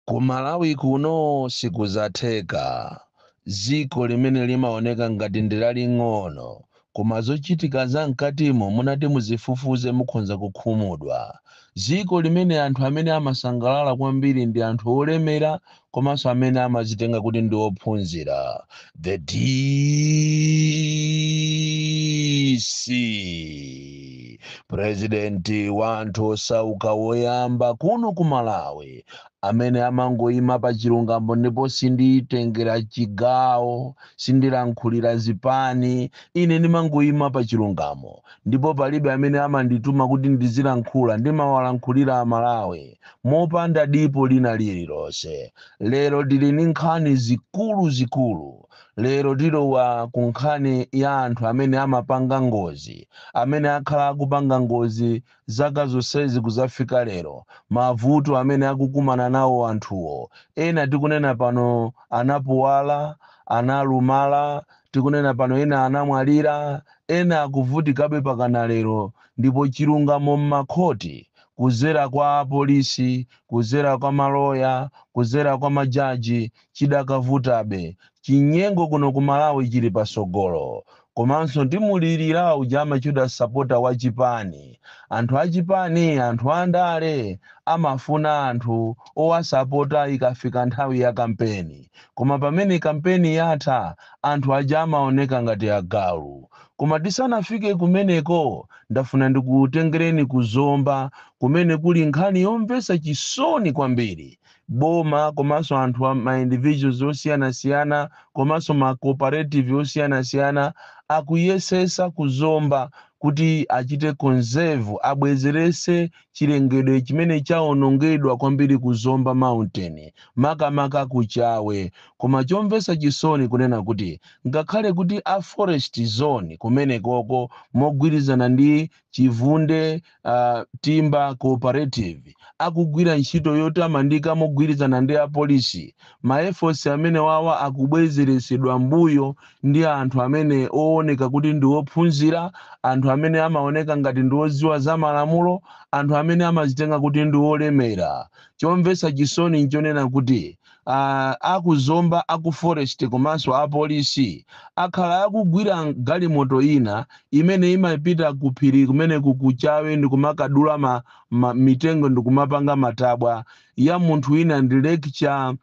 Ku Malawi kuno sikuzatheka. Dziko limene limaoneka ngati ndi laling'ono koma zochitika za mkatimo munati muzifufuze mukhonza kukhumudwa. Dziko limene anthu amene amasangalala kwambiri ndi anthu olemera komanso amene amazitenga kuti ndi ophunzira. the DC purezidenti wa anthu osauka woyamba kuno ku Malawi amene amangoyima pa chilungamo ndipo sinditengera chigawo sindilankhulira zipani ine ndimangoyima pa chilungamo ndipo palibe amene amandituma kuti ndizilankhula ndimawalankhulira amalawi mopanda dipo lina lililonse Lero tili ndi nkhani zikuluzikulu. Lero tilowa ku nkhani ya anthu amene amapanga ngozi, amene akhala akupanga ngozi zaka zonsezi kudzafika lero, mavuto amene akukumana nawo anthuwo. Ena tikunena pano anapuwala, analumala, tikunena pano ena anamwalira, ena akuvutikabe pakana lero ndipo chilungamo m'makhoti kudzera kwa apolisi, kudzera kwa maloya, kudzera kwa majaji, chidakavutabe. Chinyengo kuno ku Malawi chili patsogolo. Komanso ndimulirira uja amatchedwa sapota wa chipani. Anthu a chipani, anthu a ndale amafuna anthu owasapota ikafika nthawi ya kampeni. Koma pamene kampeni yatha, anthu aja amaoneka ngati agalu. Koma tisanafike kumeneko, ndafuna ndikutengereni ku Zomba kumene kuli nkhani yomvetsa chisoni kwambiri. Boma komanso anthu ma individuals osiyanasiyana komanso ma cooperative osiyanasiyana akuyesetsa ku Zomba kuti achite conserve, abwezeretse chilengedwe chimene chawonongedwa kwambiri ku Zomba Mountain, makamaka ku Chawe. Koma chomvetsa chisoni kunena kuti ngakhale kuti a forest zone kumenekoko mogwirizana ndi Chivunde uh, Timber Cooperative akugwira ntchito yotamandika mogwirizana ndi apolisi ma efforts amene wawa akubwezeretsedwa mbuyo ndi anthu amene ooneka kuti ndi ophunzira anthu amene amaoneka ngati ndi odziwa za malamulo anthu amene amazitenga kuti ndi olemera chomvetsa chisoni nchonena kuti Aaa a ku Zomba a ku forest komanso apolisi akhala akugwira galimoto ina imene imapita ku phiri kumeneku ku Chawe ndikumakadula ma ma mitengo ndikumapanga matabwa ya munthu wina ndi lecturer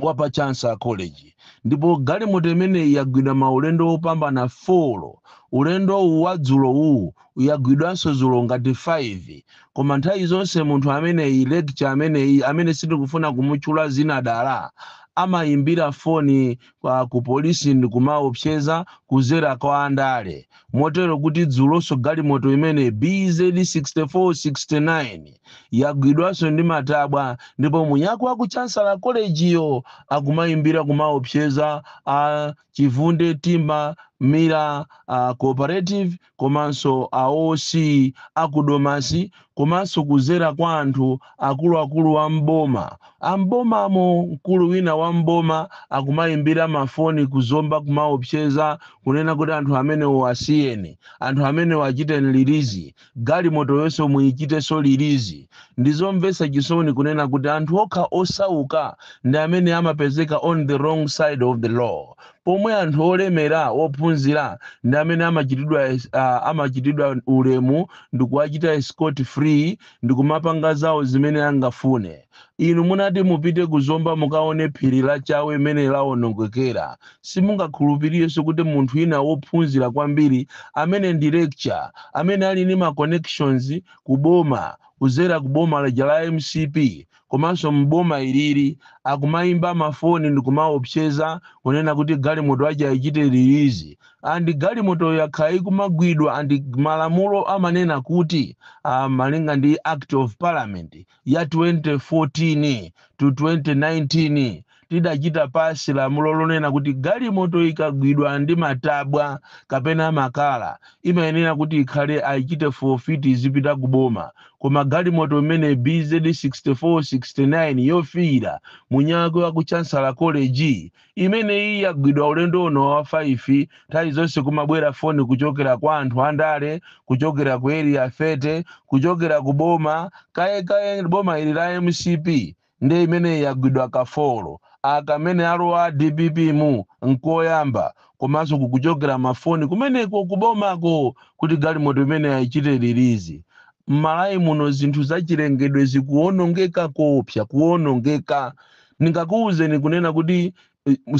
wa pa Chancellor College ndipo galimoto imeneyi yagwidwa maulendo opambana 4. Ulendo uwu wadzulo uwu yagwidwanso dzulo ngati 5 koma nthawi zonse munthu ameneyi lecturer ameneyi amene sitikufuna kumutchula dzina dala amayimbira foni kwa ku polisi ndikumaopseza kuzera kwa andale motero kuti dzulonso galimoto imene bz 6469 yagwidwanso ndi matabwa ndipo mwiniwake wa ku chancellor college yo akumayimbira kumaopseza a chivunde timber millers uh, cooperative komanso a OC a ku Domasi komanso kudzera kwa anthu akuluakulu a m'boma. A m'bomamo mkulu wina wa m'boma akumaimbira mafoni ku Zomba kumaopseza kunena kuti anthu amenewo asiyeni, anthu amenewo achiteni lilizi, galimotoyonso muichitenso lilizi. Ndi zomvetsa chisoni kunena kuti anthu okha osauka ndi amene amapezeka on the wrong side of the law. pomwe anthu olemera, ophunzira ndi amene amachitidwa, uh, amachitidwa ulemu ndikuwachita scot free ndikumapanga zawo zimene angafune. Inu munati mupite ku Zomba mukaone phiri la Chawe mene lawonongekera. Simungakhulupirirenso kuti munthu wina wophunzira kwambiri amene ndi lecturer, amene ali ndi ma connections ku boma kudzera ku boma lija la mcp komanso m'boma ilili akumaimba mafoni ndikumaopseza kunena kuti galimoto ija ayichite release and galimotoyo yakhala ikumagwidwa and malamulo amanena kuti uh, malinga ndi act of parliament ya 2014 to 2019 tidachita pasi lamulo lonena kuti galimoto ikagwidwa ndi matabwa kapena makala imayenera kuti ikhale ayichite forfeit izipita ku boma koma galimoto imene bz 6469 yofiira mwiniwake wa ku chancellor college imene iyi yagwidwa ulendo uno wa 5 nthawi zonse kumabwera foni kuchokera kwa anthu andale kuchokera ku area 30 kuchokera ku boma kaye kaye boma ili la mcp Nde imeneyi yagwidwa kafolo aka amene alowa a dpp mu nkoyamba komanso kukuchokera ma foni kumeneko ku bomako kuti galimoto imeneyi ayichite release. Mmalawi muno zinthu zachilengedwe zikuwonongeka koopsa kuwonongeka ndingakuuzeni kunena kuti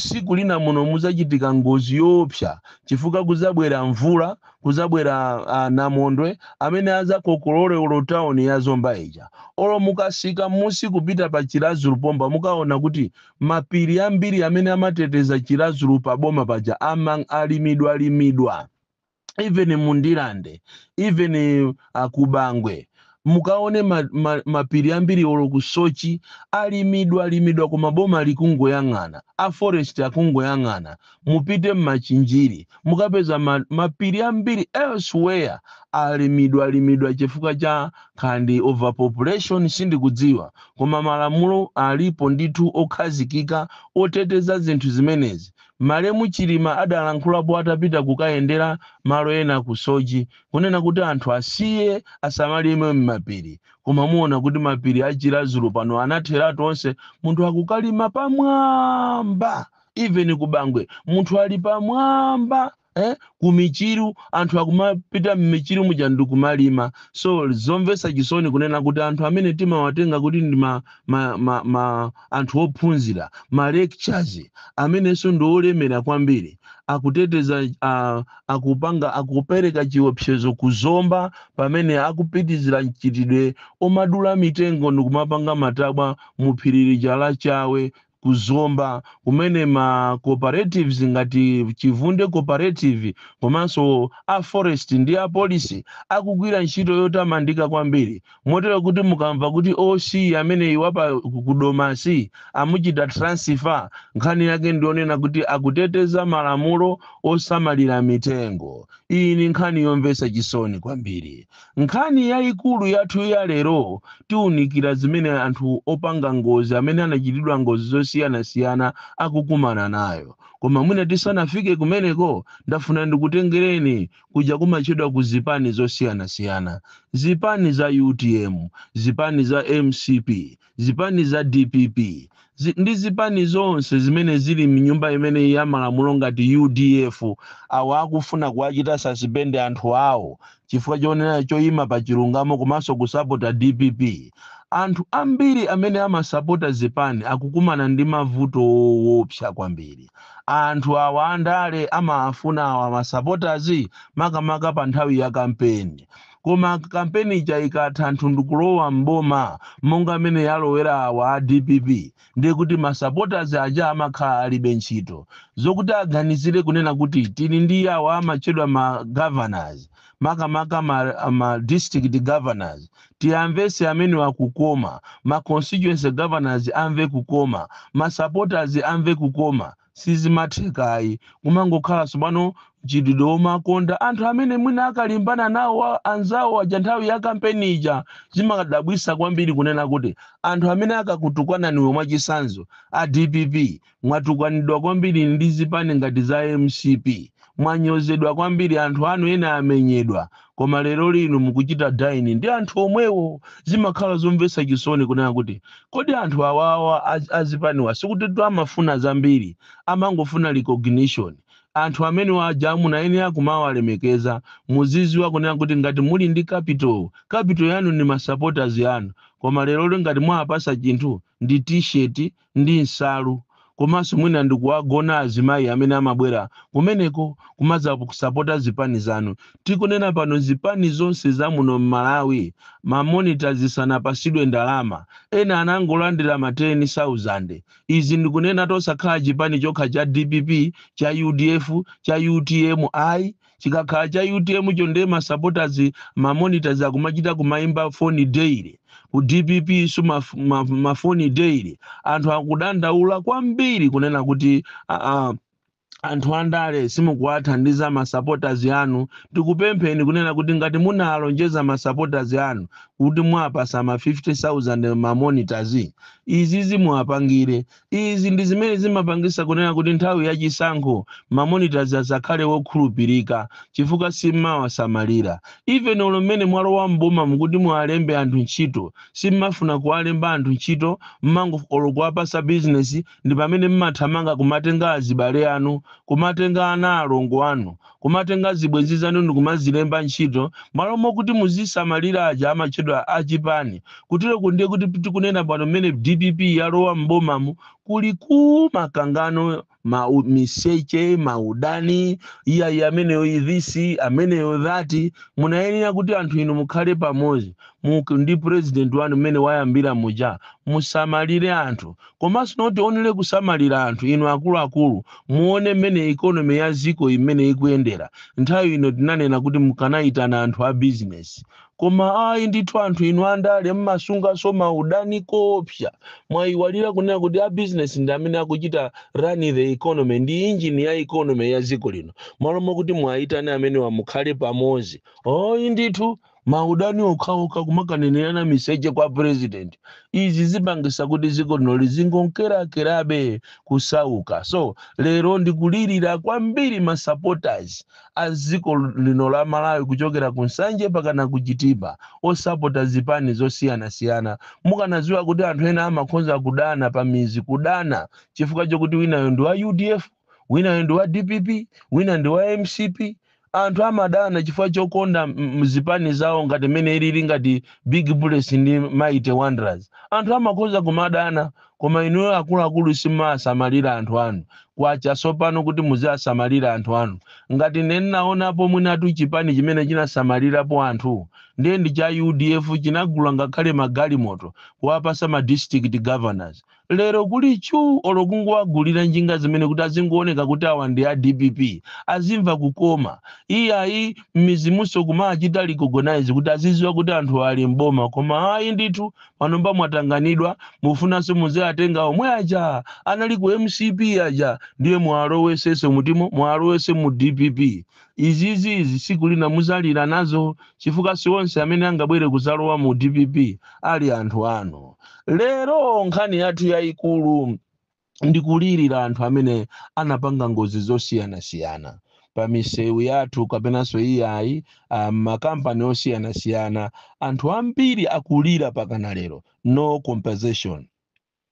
Tsiku lina muno mudzachitika ngozi yoopsa chifukwa kudzabwera mvula, kudzabwera a, namondwe amene adzakokolole olo tauni ya Zomba ija. Olo mukasika m'musi kupita pa Chiradzulu pompa mukaona kuti mapiri ambiri amene amateteza Chiradzulu pa boma paja ama- alimidwalimidwa. even mu Ndirande even uh, ku Bangwe mukaone ma, ma, mapiri ambiri olo ku Soche alimidwa alimidwa koma boma likungoyang'ana a forest akungoyang'ana mupite m'Machinjiri mukapeza ma, mapiri ambiri elsewhere alimidwa alimidwa chifukwa cha kapena ndi overpopulation sindikudziwa koma malamulo alipo ndithu okhazikika oteteza zinthu zimenezi Malemu Chilima adalankhulapo atapita kukayendera malo ena ku Soche kunena kuti anthu asiye asamalime mmapiri koma muona kuti mapiri a Chiradzulu pano anatheratu onse munthu akukalima pamwamba even ku Bangwe munthu ali pamwamba eh ku Michiru anthu akumapita m'Michiru muja ndikumalima so zomvetsa chisoni kunena kuti anthu amene timawatenga kuti ndi ma, ma, ma, ma anthu ophunzira ma lecturers amenenso ndi olemera kwambiri akuteteza uh, akupanga akupereka chiopsezo ku Zomba pamene akupitizira mchitidwe omadula mitengo ndikumapanga matabwa mu phiri lija la Chawe ku Zomba kumene ma cooperatives ngati Chivunde Cooperative komanso a Forest ndi a Police akugwira ntchito yotamandika kwambiri motero kuti mukamva kuti OC ameneyi wapa ku Domasi amuchita transfer nkhani yake ndi yonena kuti akuteteza malamulo osamalira mitengo. Iyi ni nkhani yomvetsa chisoni kwambiri. Nkhani yaikulu yathu ya lero, tiunikira zimene anthu opanga ngozi amene anachitidwa ngozi zosiyanasiyana akukumana nayo. Koma mwina tisanafike kumeneko, ndafuna ndikutengereni kuja kumatchedwa ku zipani zosiyanasiyana. Zipani za utm, zipani za mcp, zipani za dpp zi, ndi zipani zonse zimene zili mnyumba imeneyi ya malamulo ngati udf awa akufuna kuwachita sasipende anthu awo chifukwa chonena choyima pa chilungamo komanso kusapota dpp anthu ambiri amene amasapota zipani akukumana ndi mavuto owopsa kwambiri anthu awa andale amawafuna awa masapotazi makamaka pa nthawi ya kampeni Koma kampeni ija ikatha anthu ndikulowa m'boma monga mmene yalowera awa a dpp ndiye kuti ma supporters aja amakhala alibe ntchito. Zokuti aganizire kunena kuti tili ndi awa amatchedwa ma governors makamaka ma, ma district governors tiwamvetse amenewa kukoma, ma constituency governors amve kukoma, ma supporters amve kukoma. sizimatheka ayi kumangokhala tsopano mchitidwe womakonda anthu amene mwina akalimbana nawo wa- anzawo aja nthawi ya kampeni ija zimadabwisa kwambiri kunena kuti anthu amene akakutukwananiwo mwachisanzo a dpp mwatukwanidwa kwambiri ndi zipani ngati za mcp mwanyozedwa kwambiri anthu anu ena amenyedwa koma lero lino mukuchita dine ndi anthu omwewo zimakhala zomvetsa chisoni kunena kuti kodi anthu awawa az- azipaniwa sikuti tu amafuna zambiri amangofuna recognition anthu amene aja munayenera kumawalemekeza muziziwa kunena kuti ngati muli ndi capital capital yanu ndi masupporters yanu koma lero lino ngati mwapasa chinthu ndi t-shirt ndi nsalu komanso mwina ndikuwagona azimayi amene amabwera kumeneko kumadzakusapota zipani zanu. Tikunena pano zipani zonse za muno m'Malawi ma monitors sanapasidwe ndalama. Ena anangolandira ma ten sauzand. Izi ndikunena tosakhala chipani chokha cha dpp, cha udf, cha utm ayi. Chikakhala cha utm cho nde ma supporters ma monitors akumachita kumaimba foni daily. Ku dpp so ma, ma, ma foni daily. Anthu akudandaula kwambiri kunena kuti ah, ah, anthu andale simukuwathandiza ma supporters anu. Tikupempheni kunena kuti ngati munalonjeza ma supporters anu kuti mwapasa ma 50,000 ma monitors izizi muwapangire. Izi ndi zimene zimapangisa kunena kuti nthawi ya chisankho ma monitors asakhale wokhulupirika chifukwa simmawasamalira. Even olo mmene mwalowa m'boma mukuti muwalembe anthu ntchito, simmafuna kuwalemba anthu ntchito mmango olo kuwapasa business ndipamene mmathamanga kumatenga azibale anu, kumatenga ana alongo anu, Kumatenga zibwenzi zanu ndikumazilemba ntchito malo mokuti muzisamalira aja amatchedwa a chipani. Kuteroku ndiye kuti tikunena pano mmene dpp yalowa m'bomamu kuli ku makangano, miseche, ma udani, iyayi ameneyo this, ameneyo that. Munayenera kuti anthu inu mukhale pamodzi ndi president wanu mmene wayambira muja musamalire anthu Komanso not only kusamalira anthu, inu akuluakulu muone mmene economy ya dziko imene ikuyendera. Nthawi ino tinanena kuti mukanaitana anthu a business koma ayi ndithu anthu inu andale mmasunganso maudani koopsa. Mwaiwalira kunena kuti a business ndi amene akuchita run the economy, ndi engine ya economy ya dziko lino. Mmalo mokuti muwaitane amenewa mukhale pamodzi, ayi ndithu. maudani okhaokha kumakanenerana miseche kwa president izi zipangisa kuti dziko lino lizingonkerankerabe kusauka so lero ndikulirira kwambiri ma supporters a dziko lino la malawi kuchokera ku nsanje pakana ku chitipa osapota zipani zosiyanasiyana mukanadziwa kuti anthu ena amakhoza kudana pa mizi kudana chifukwa chokuti winayo ndi wa udf winayo ndi wa dpp wina ndi wa mcp anthu amadana chifukwa chokonda m- m- zipani zawo ngati mmene ilili ngati big bullets ndi mighty wanderers anthu amakhoza kumadana koma inuyo akuluakulu simmasamalira anthu anu kwacha sopano kuti muziasamalira anthu anu ngati nenaonapo mwinatu chipani chimene chinasamalirapo anthu ndiye ndi cha udf chinagula ngakhale magalimoto kuwapasa ma district governors Lero kuli chu olo kungowagulira njinga zimene kuti azingooneka kuti awa ndi a dpp azimva kukoma. Iyayi mmizimunso kumachita recognize kuti aziziwa kuti anthu ali m'boma koma ayi ndithu panopa mwatanganidwa mufunanso muziatenga omwe aja anali ku mcp aja ndiye muwalowesenso mutimo muwalowese mu dpp. izizi izi siku lina muzalira nazo chifukwa sionse amene angabwere kuzalowa mu dpp ali anthu anu lero nkhani yathu yayikulu ndikulirira anthu amene anapanga ngozi zosiyanasiyana pa misewu yathu kapenanso iyayi m'makampani osiyanasiyana anthu ambiri akulira pakana lero no compensation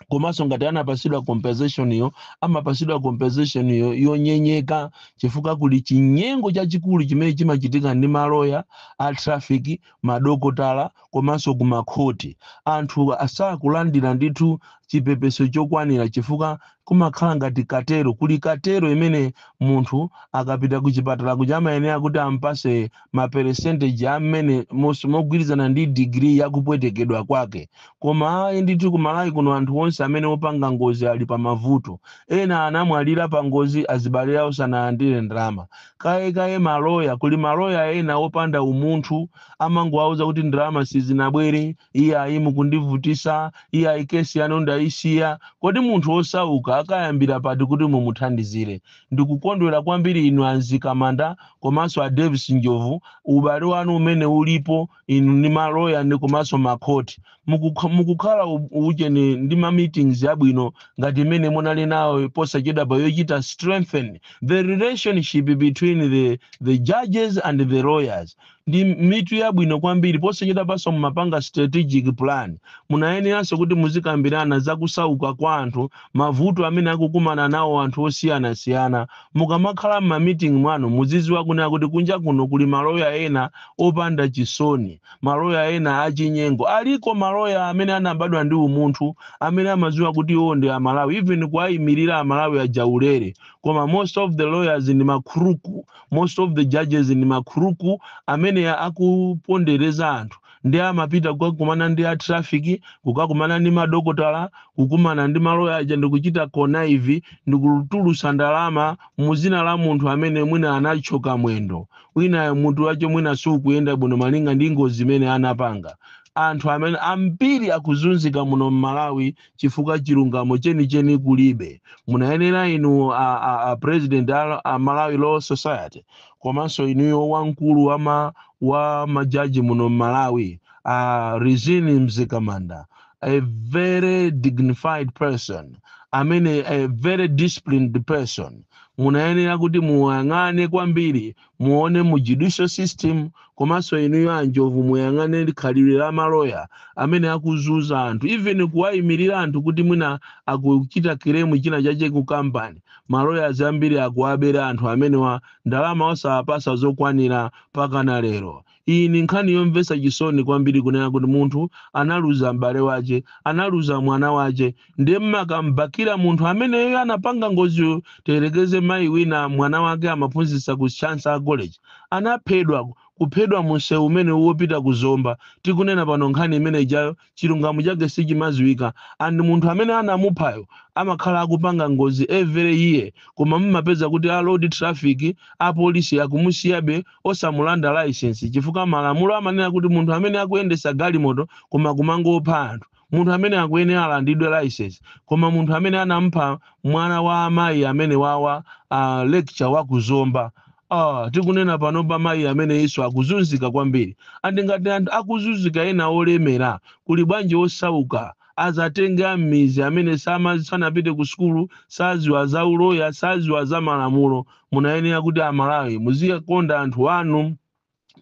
komanso ngati anapasidwa compensation yo amapasidwa compensation yo yonyenyeka chifukwa kuli chinyengo chachikulu chimene chimachitika ndi maloya a traffic madokotala komanso kumakhoti anthu asakulandira ndithu chipepeso chokwanira chifukwa kumakhala ngati katero kuli katero imene munthu akapita ku chipatala kuja amayenera kuti ampase ma percentage a mmene mos- mogwirizana ndi digiri ya kupwetekedwa kwake koma ayi ndithu ku malawi kuno anthu onse amene opanga ngozi ali pa mavuto ena anamwalira pa ngozi azibale awo sanalandire ndalama kaye kaye maloya kuli maloya ena opanda umunthu amangowauza kuti ndalama sizinabwere iyayi mukundivutisa iyayi kesi yanu ndayisiya kodi munthu wosauka akayambira pati kuti mumuthandizire Ndikukondwera kwambiri inu a Mzikamanda komanso a Davis Njobvu ubale wanu umene ulipo inu ndi ma lawyer ndi komanso ma court. Mukukh mukukhala u ujeni ndi ma meetings yabwino ngati imene munali nayo posachedwapa yochita strengthen the relationship between the the judges and the lawyers. ndi mitu yabwino kwambiri posachedwapanso mumapanga strategic plan munayeneranso kuti muzikambirana za kusauka kwa anthu mavuto amene akukumana nawo anthu osiyanasiyana mukamakhala m'mamiting mwanu muziziwa kunena kuti kunja kuno kuli maloya ena opanda chisoni maloya ena achinyengo aliko maloya amene anabadwa ndi umunthu amene amaziwa kuti iwo ndi amalawi even kuwayimirira amalawi ajaulere koma most of the lawyers ndi makhuruku most of the judges ndi makhuruku amene akupondereza anthu ndi amapita kukakumana ndi a traffic kukakumana ndi madokotala kukumana ndi maloya aja ndikuchita connive ndikutulusa ndalama muzina la munthu amene mwina anachoka mwendo winayo mutu wache mwina siukuyenda bwino malinga ndi ngozi imene anapanga anthu amenewa ambiri akuzunzika muno mmalawi chifukwa chilungamo chenicheni kulibe munayenera inu a, a, a president a, a malawi law society komanso inuyo wamkulu wa ma wa majaji muno m'malawi a rizine mzikamanda a very dignified person amene a very disciplined person munayenera kuti muyang'ane kwambiri muone mu judicial system komanso inuyo anjovu muyang'ane khalidwe la maloya amene akuzuza anthu even kuwayimirira anthu kuti mwina akuchita kiremu china chache ku kampani maloya ambiri akuwabera anthu amenewa ndalama osawapasa zokwanira pakana lero Iyi ni nkhani yomvetsa cisoni kwambili kunena kuti munthu analuza m'bale wace, analuza mwana wace, ndiye m'makambakila munthu ameneyo anapanga ngoziyo tiyelekeze mai wina mwana wake amaphunzitsa ku Chancellor College anaphedwa, kuphedwa mu mseu umene wopita ku Zomba tikunena pano nkhani imene ijayo, chilungamo chake sichimaziwika and munthu amene anamuphayo amakhala akupanga ngozi every year koma mumapeza kuti a road traffic apolisi akumusiyabe osamulanda license chifukwa malamulo amanena kuti munthu amene akuyendesa galimoto koma kumangopha anthu munthu ameneyo akuyenera alandidwe license koma munthu amene anamupha mwana wa amayi amenewawa uh, lecturer wa ku zomba Ah, tikunena pano amayi amenewo akuzunzika kwambiri. And ngati anthu akuzunzika ena olemera, kuli bwanji osauka? Azatenge a m'midzi amene sama sanapite ku sukulu, saziwa za uloya, saziwa za malamulo. Munayenera kuti a Malawi muziwakonda anthu anu.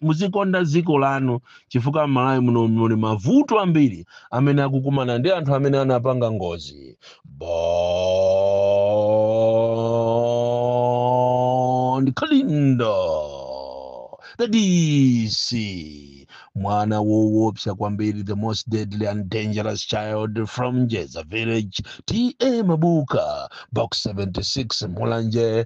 muzikonda dziko lanu chifukwa m'malawi muno muli mavuto ambiri amene akukumana ndi anthu amene anapanga ngozi bon kalindo the dc mwana wowopsa kwambiri the most deadly and dangerous child from jeza village ta mabuka box 76 mulanje